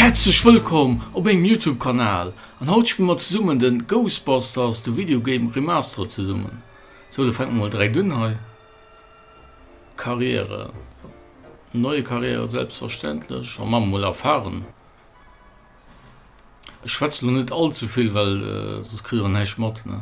Häerzlech wëllkomm op mengem Youtube Kanal an haut spille mer zesummen den Ghostbusters the Video Game Remastered zesummen. Sou da fänke mer mol direkt un hei. Karriere, neue Karriere selbstverständlech an maache mol erfahren. Ech schwätze lo net allzevill well soss kritt der näischt mat ne.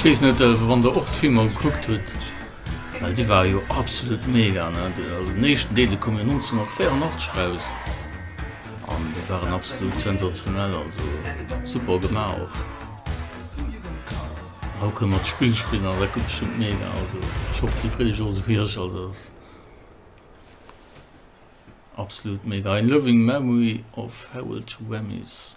Ech weess net wann der och d'Filmer gekuckt hutt, well déi ware jo absolut mega, den éischten Deel dee koum jo 1984 eraus. An déi waren absolut sensationell, also super gemaach och. Haut kënne mer d'Spill spillen an dat gëtt bestëmmt mega, also ech hoffen déi freet sech och esou wéi ech, also dat ass absolut mega. Ein loving memory of Harold Ramis.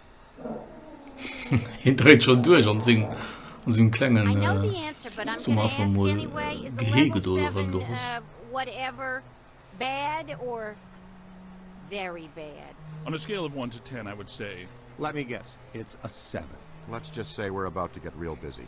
Hien dréit schonn duerch an sengem klengen Summer fir mol Gehee gëtt oder wat et och ass. On a scale of one to ten I would say. Let me guess, it's a seven. Let's just say we're about to get real busy.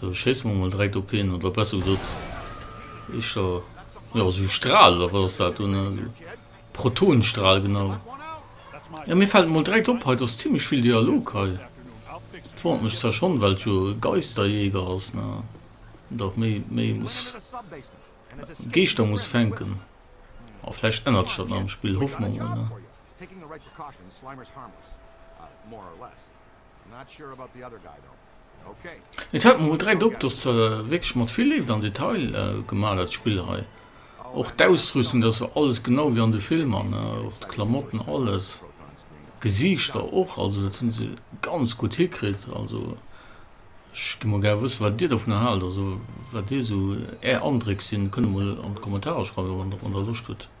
Sou, schéisse mer mol direkt op hien, oder besser gesot, ech der, jo, esou e Stral, oder wat ass dat do, ne, esou Protonenstral, genau. Jo, mir fält mol direkt op, hei, et ass zimmlech vill Dialog hei. Et wonnert mech zwar schonn, well et jo e Geisterjäger ass, ne, an dach méi, méi muss, Geeschter muss fänken. A vläicht ännert sech dat nach am Spill, hoffe mer mol, ne. Taking the right precautions, Slimer is harmless. More or less. Not sure about the other guy though. Okay. Et fällt mer mol direkt op, dass se wierklech mat vill Léift an Detail gemaach, dat Spill hei. Och d'Ausrüstung, dass war alles genau wéi an de Filmer, ne, och d'Klamotten, alles. D'Gesiichter och, also dat hunn se ganz gutt hikritt. Also ech gi mol gär wëssen, wat Dir dovunner haalt, also wat Dir esou Är Andréck sinn. Kënnt emol an d'Kommentarer schreiwen, wann Der Loscht hutt.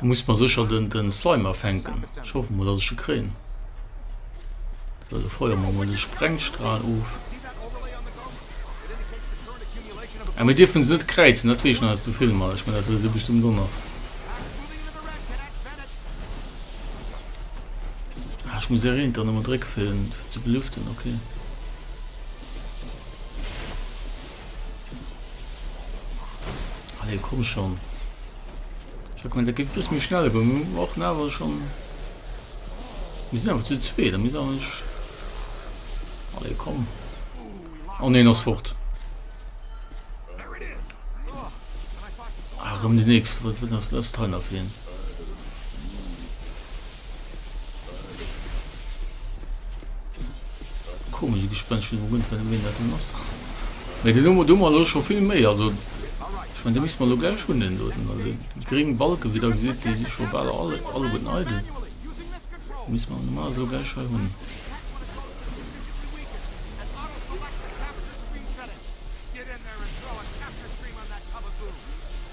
Muss mer secher den Slime afänken. Ech hoffen mol dass ech e kréien. Sou do feuer mer mol den Sprengstrahl of. Ah mir dierfen se net kräizen dat wees ech nach aus dem Film. Ech menn dat hues du bestëmmt och nach. Ah ech muss R1 dann emmer drécken fir en ze belüften. Ok. Allez, komm schon. Ich hab gemeint, da geht ein bisschen mehr schnell, aber wir brauchen aber schon. Wir sind einfach zu zweit, da müssen wir nicht. Allez, komm. Oh nein, das fort. Ach, um die nächste, was wird das, das Teil auf jeden Fall. Komische Gespenst, ich bin mal gespannt, wen das denn ist. Mit den Nummer dummer los schon viel mehr, also ich meine, da müssen wir nur gleich schon den dort, also die grünen Balken, wie da sieht, die sind schon alle, alle, alle gut neidel. Müssen wir normal so gleich schon haben.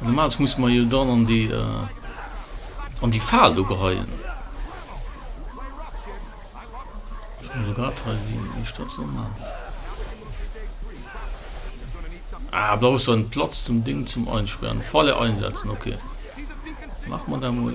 Normalerweise muss man jo dann an die äh, an die Faal do geheien. Also grad hei wie ich das so machen. Ah, blau ist ein Platz zum Ding zum Einsperren. Falle einsetzen, okay. Mach man da mal.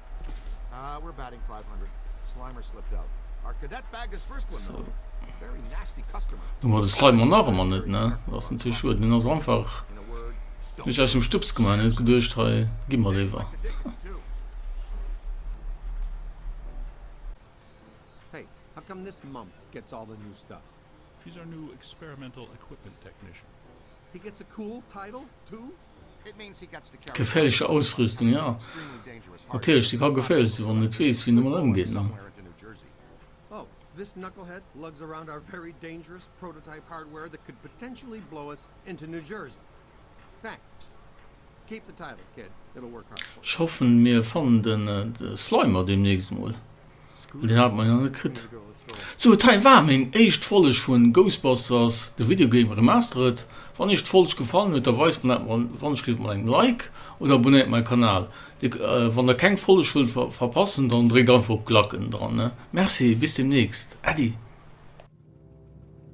Hu mer de Slimer nach emmer net ne? Ass natierlech schued. Mir hunn eis einfach mech aus dem Stupps gemaach. Mir hu geduecht hei gi mer léiwer. Geféierlecher Ausrüstung, jo, natierlech, se ka geféierlech sinn, wann en net weess, wéi en domat ëmgeet. Ech hoffen mir fannen den Slimer demnächst mol, well deen haten mer jo nach net kritt. Sou et hei war meng éischt Folg vun Ghostbusters The Video Game Remastered. Wann iech d'Folg gefallen huet da weist mer dat wannechgelift mat engem Like oder abonnéiert mein Kanal. Wann der keng Folg wëllt verpassen dann dréckt einfach op Glacken dran. Merci bis demnächst Äddi.